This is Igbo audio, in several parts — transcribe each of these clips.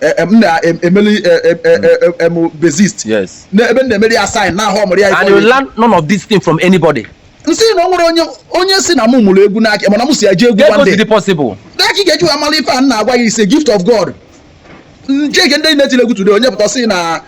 e, e, m na-emeli e, m bassist ebe m na-emeli ya sign na-ahụ ọmụrụ ya and you learn none of this thing from anybody nsị na ọ nwere onye onye sị na mụ mụrụ egwu n'aka mana m si eje egwu one day ka ị ga-eji wee mara ife a na-agwa gị is a gift of God chekie ndị na-etile egwu today onye pụta sị na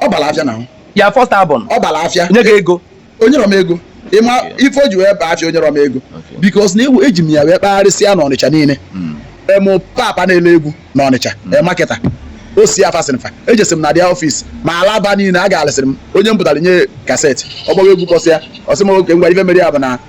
ọ bara afịa now your first album ọ bara afịa nye gị ego o nyerọ m ego ị ma ife o ji wee baa afịa o nyerọ m ego because na egwu eji m ya wee kpagharịsịa na ọnịcha niile hmm. ụmụ papa na-ele egwu na ọnịcha hmm. e, marketer o si afa sịrị fa ejesi m na their office ma alaba niile agalịsịrị m onye m pụtara nye cassette ọ gbawa egwu kpọsịa ọ sị m okay ngwa ife mere ya bụ na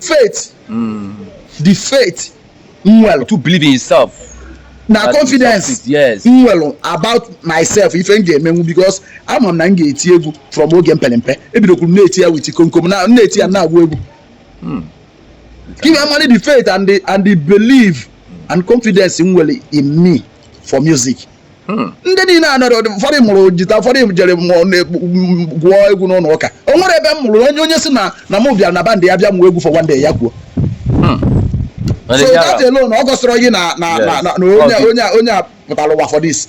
faith mm. the faith m nwere to believe in yourself na confidence yes. m nwere about myself ife m ga-emenwu because ama m na m ga-eti egwu from oge mpelempe ebidokwuru na-eti ya with komkom na na-eti ya na-agụ egwu hmm. give me money the faith and the, and the belief and confidence m nwere in me for music Hmm. ndị niile a nọrọ ụfọdụ mụrụ jita ụfọdụ jere gụọ egwu n'ụlọ ụka o nwere ebe m mụrụ onye onye sị na na m bịara na band ya bịa mụọ egwu for one day ya kwuo hmm. so that alone o gosirọ gị na onye onye a pụtara ụwa for this